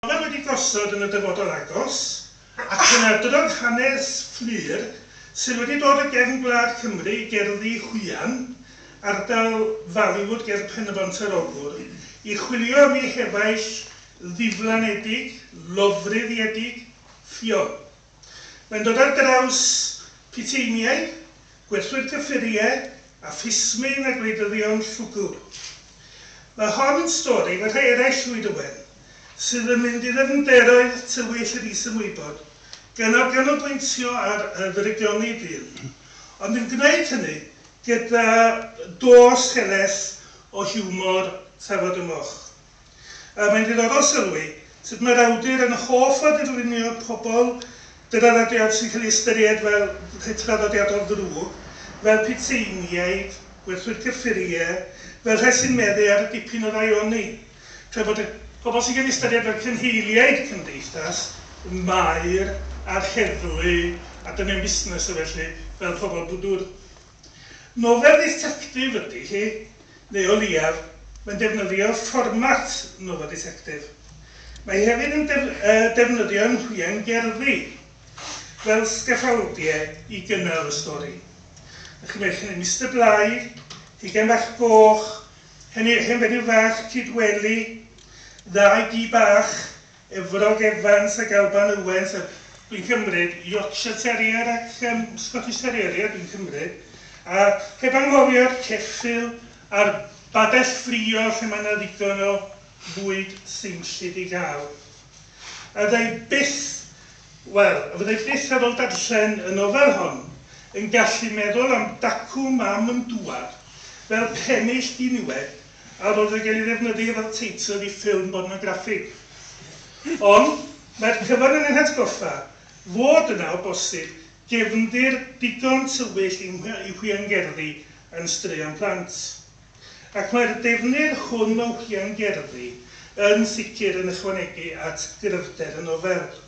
Rhoddodd wedi gosod yn y dyfodol agos, ac yn adrodd hanes Fflur sydd wedi dod o gefn gwlad Cymru, gerddi Hwyan, ardal Faliwood ger Pen-y-bont-yr-Ogwr, i chwilio am ei hefaill ddiflanedig, lofruddiedig, ffion. Mae'n dod ar draws puteiniaid, gwerthwyr cyffuriau a phlismyn a gwleidyddion llwgu. Mae hon yn stori fel rhai eraill Llwyd Owen, sydd yn mynd i ddyfnderoedd tywyll yr is-ymwybod, gynnal ganolbwyntio ar y ddirygioni dyn, ond yn gwneud hynny gyda dos heleth o hiwmor tafod y moch. A mae'n ddiddorol sylwi sut mae'r awdur yn hoff o dirlunio pobl draddodiad sy'n cael ei ystyried fel rhai traddodiadol ddrwg, fel pitseiniaid, gwerthwyr cyffuriau, fel rhai sy'n meddu ar dipyn o rai oni, tra bod y. Pobl sy'n cael ei ystyried fel cynheiliaid cymdeithas, y maer a'r heddlu a dynion busnes a felly, fel pobl bwdwr. Nofel dditectif ydy hi, neu o leiaf, mae'n defnyddio fformat nofel dditectif. Mae hi hefyd yn defnyddio nhwiain gerddi fel sgaffaldiau i gynnal y stori. Dych chi'n meddwl hynny, Mister Bligh, Hugain Bach Goch, Hen Fenyw Fach, Cyd Weli, Ddau Gi Bach, Efrog Evans ac Alban Owens a dwi'n cymryd, Yorkshire Terrier ac yym Scottish Terrier ia dwi'n cymryd, a heb anghofio'r ceffyl a'r babell ffrio lle mae 'na ddigon o fwyd seinllyd i gael. A fydda i byth, wel, a fydda i byth ar ôl darllen y nofel hon yn gallu meddwl am dacw mam yn dŵad fel pennill diniwed a fod yn cael ei ddefnyddio fel teitl i ffilm bornograffig. Ond, mae'r cyfan yn ein hatgoffa fod yna, o bosib, gefndir digon tywyll i i hwiangerddi yn straeon plant. Ac mae'r defnydd hwn o hwiangerddi yn sicr yn ychwanegu at gryfder y nofel.